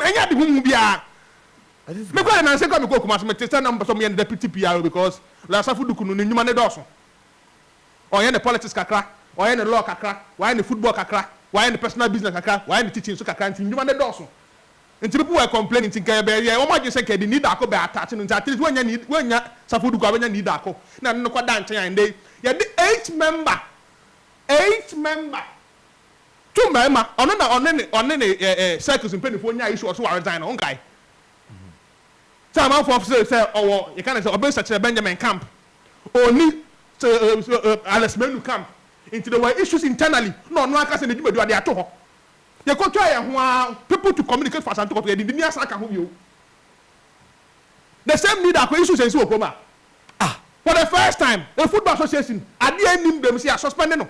ɛnyɛ ade huhu biara. Me kura nansa kura me kɔ Kumasi me te sɛ na mo pɛ sɛ mo yɛ ne deputy PRO because lawyer Safu Duku no ne nnwuma no dɔɔso. Ɔyɛ ne politics kakra, ɔyɛ ne law kakra, wayɛ ne football kakra, wayɛ ne personal business kakra, wayɛ ne teaching nso kakra nti nnwuma no dɔɔso. Nti people were complaining nti nka yɛbɛ yɛ wɔn adwene sɛ nka yɛde nii daako bɛ attach no nti at least wɔnnya nii wɔnnya Safu Duku a wɔbɛnya nii daako na ɛno no kɔ da nkyɛn a ɛnde yɛde eight member eight member To mmarima, ɔno na ɔne ne ɔne ne eh, eh, circles mpanimfoɔ nyaa issue ɔso waredzae no, wonkae? Sɛ amanfoɔ se sɛ ɔwɔ, yɛka ne sɛ ɔbɛsa kyerɛ Benjamin camp, ɔnni sɛ eh, eh, eh, eh, Alex Manu camp, nti there were issues internally, na ɔno ankasa ne dwumadi ɔde ato hɔ. Yɛkɔtwaa yɛn ho ara, people to communicate for Asante Kɔtɔ, yɛde Ndini asan aka ho bio. The same leader akɔ issues nsi wɔ kurom a, ah, for the first time, a football association, adeɛ nnim dɛm, sɛ yɛasuspende no.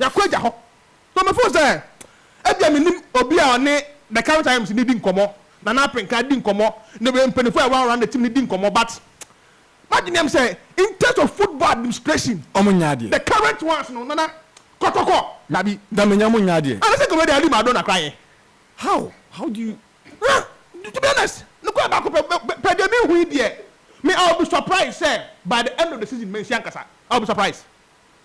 Yɛakɔ agya hɔ. Na mefoo sɛ ebia menim obi a ɔne The Cairo Times no di nkɔmmɔ, Nana Apenka di nkɔmmɔ, ne mpanyinfo a ɛwɔ around the team no di nkɔmmɔ but m'adwene yɛm sɛ in terms of football administration, Ɔmo nyɛ adeɛ. the current ones no, Nana, kɔtɔkɔ. Dabi, da manya ɔmo nyɛ adeɛ. Anaa sɛ nka wɔadi Maradona koraa yɛ. How? How do you. Na, to be honest, nokorɛ baako pɛ, per deɛ mehu yi deɛ, me I will be surprised sɛ by the end of the season mansi ankasa. I will be surprised.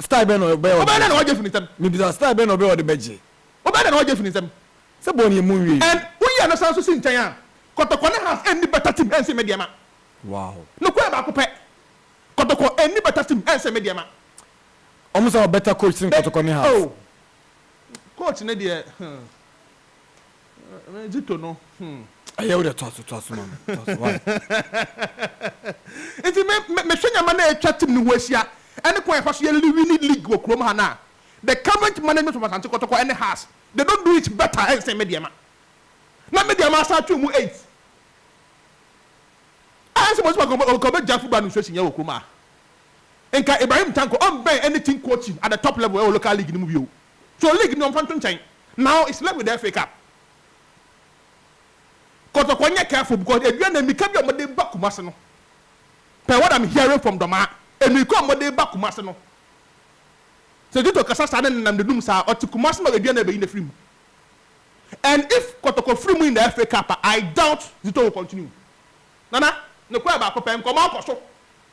Style bɛn na ɔbɛyɛ a ɔde bɛgye? Ɔbɛyɛ dɛn na wagye afi ne nsam? Mebisa, style bɛn na ɔbɛyɛ a ɔde bɛgye? Ɔbɛyɛ dɛn na wagye afi ne nsam? Sɛ bɔne yɛ mu nwie. And woyi ano san nso si nkyɛn a, kɔtɔkɔ ne has nni better team ɛnsen me deɛ ma. Wow. Nokorɛ baako pɛ. Kɔtɔkɔ nni better team ɛnsen me deɛ ma. Wɔn nsa wɔ better coach sen kɔtɔkɔ ne has. Oh, coach no deɛ, hmm. Me Zito no hmm. Ɛyɛ wo dɛ toa so toa so ma me toa so why. Nti me me mehwɛ nneɛma na atwa team no ho ahyia ɛne kwan a yɛfa so yɛ li winni league wɔ kurom ha no a, the current management of Asante Kɔtɔkɔ ɛne Hearts they don't do it better ɛnsen Medeama. Na Medeama asan atwe wɔn eight. Ɛyɛ sɛ Moses Magogo nka ɔbɛgyae football administration yɛ wɔ kurom ha. Nka Ibrahim Tanko ɔmbɛn anything coaching at the top level ɛwɔ local league no mu bio. So league no ɔmfa nto nkyɛn now it's left with the FA cup. Kɔtɔkɔ nyɛ careful because aduane na mmirika bi a wɔde ba Kumasi no per what I'm hearing from Dɔmaa mmirika a wɔde ba Kumasi no sɛ Zito kasa saa ne nenam n'anum saa ɔte Kumasi na aduane na ɛbɛyi no afiri mu and if Kɔtɔkɔ firi mu in the FA cup a I doubt Zito will continue. Nana, nokorɛ baako pɛ, nkɔmmɔ akɔ so.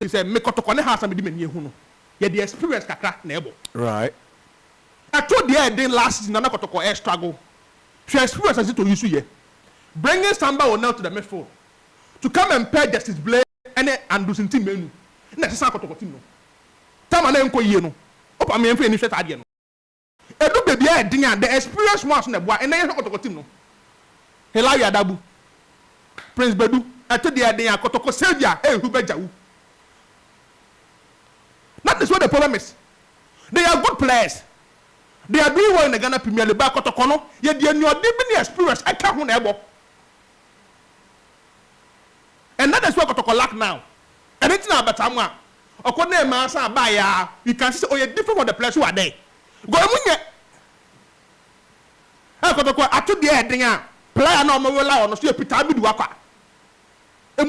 Te sɛ me kɔtɔkɔ ne haasa mede m'ani ahu no, yɛde experience kakra na ɛbɔ. Right. Ɛto deɛ ɛden last season na na kɔtɔkɔ ɛ struggle. Hwɛ experience a Zito use yɛ bringing Samba Onel to the midfield to come and pair Justice Blay ne Andrews Ntim Manu na ɛsesa kɔtɔkɔ team no. Time a na ɛnkɔ yie no, hope ameyɛnfa yɛni nhwɛ saa adeɛ no. Edu baabi a ɛyɛ den a, the experience mu aso na ɛboa. Ɛnnɛ yɛhwɛ kɔtɔkɔ team no, Hillary Adabu, Prince Badu, ɛto deɛ ɛden a, kɔtɔkɔ Saviour, hey Hubert Djawu. That is what the problem is. They are good players. They are doing well in the Ghana Premier League but kɔtɔkɔ no, yɛde anuɔden bi ne experience ɛka ho na ɛbɔ. And that is what kɔtɔkɔ lack now. Ɛno nti na abataa mu a, Ɔkɔ dɛɛ maa saa baa yaa you can see sɛ ɔyɛ different from the players who are there because ɔmo nyɛ ɛɛ kɔtɔkɔ ato deɛ ɛden a player na ɔmo rely on no so yɛ Peter Abidu Akwa.